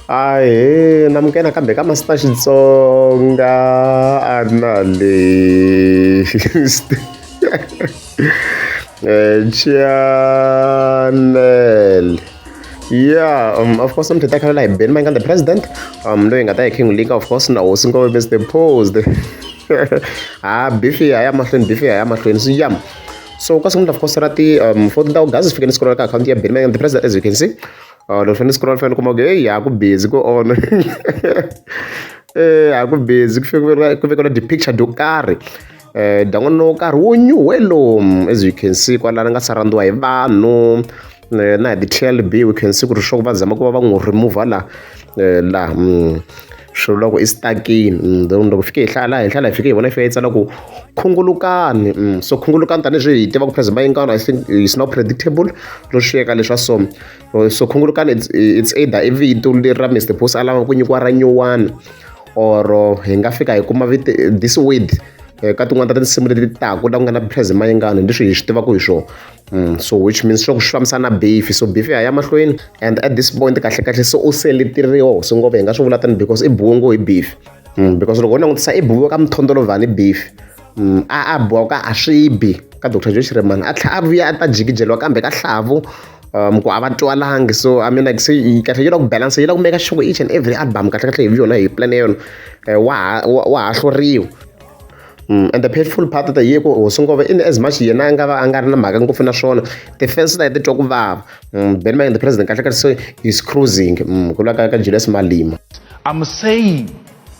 Ahee namukela kambe ka Master Xitsonga a ri na list eh, channel yeah um, of course mthetha khalela hi ben mayingani the president um loyi nga ta hi king lika of course na hosi ngove best posed ha ah, bifi ya ya mahlweni bifi ya ya mahlweni so yam so ka siku ni of course ra ti um 14 august sifike ni scroll ka account ya ben mayingani the president as you can see Oh, loko ni scroll fane kuma ku hey ha ku busy ku on eh ha ku busy ku fike ku vekela dipicture do karhi eh dan'wana wo karhi wo nyuhe lomu as you can see kwalana nga sarandiwa hi vanhu eh, na hi ti-tlb we can see ku ri sure va zama ku va va n'wi remover la eh, laha mm. swi vula ku i stakini mm, then loko fike hi hlaya laha hi hlaya hi fike hi vona yi fika yi tsala ku khungulukani mm, so khungulukani tanihileswi hi tiva ku president bayingana i think is not predictable ro xiyeka leswa so so khungulukani it's it's either i vito leri ra Mister Boss a lava ku nyikiwa ra nyuwana or hi nga fika hi kuma vito this word eh, ka tin'wana ta tinsimu leti taku la ku nga na prez mayingani leswi hi swi tivaka hi swona mm, so which means swa ku swi fambisa na beef so beef ya ya mahlweni and at this point kahle kahle se u seleteriwa so ngopfu hi nga swi vula tani because i buwe ngo hi beef mm, because loko u langutisa i buwe ka mithondolovhani beef Mm, a a boha ku a swi bi ka dr joe xiremani a tlhela a vuya a ta jikijeliwa kambe ka hlavu um ku a va twalangi so i mean like se kahle yi la ku balance yi la ku meka sure each and every album kahle kahle hi yona hi plan yona eh, wa wa ha hluriwa Mm, and the painful part ta yiko hosi ngove in as much yena a nga va a nga ri na mhaka ngopfu na swona ti-fans ta ti twa ku vava mm, ben maying the president kahle kahle so he's cruising mm, ku lwa ka ka julius malima i'm saying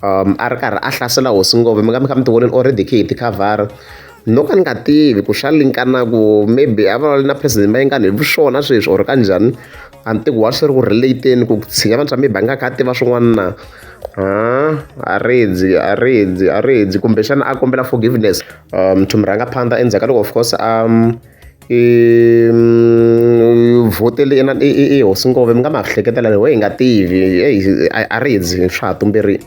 um a ri karhi a hlasela hosi ngopfu mi nga mi kha mi ti voneni already khe hi tikhavhara no ka ni nga tivi ku xa linkana ku maybe a vulavula na president mayengani hi swona sweswi or ka njhani a ni tivi wa swi ri ku relateni ku tshinya vanhu swa maybe a nga kha a tiva swin'wana na a rindzi a rindzi a rindzi kumbexana a kombela forgiveness um to mi rhanga phanda endzhaku ka loko of course a I vhotela yena i hosi ngopfu mi nga ma hleketela leyi we hi nga tivi eyi a ri dzi swa ha tumberile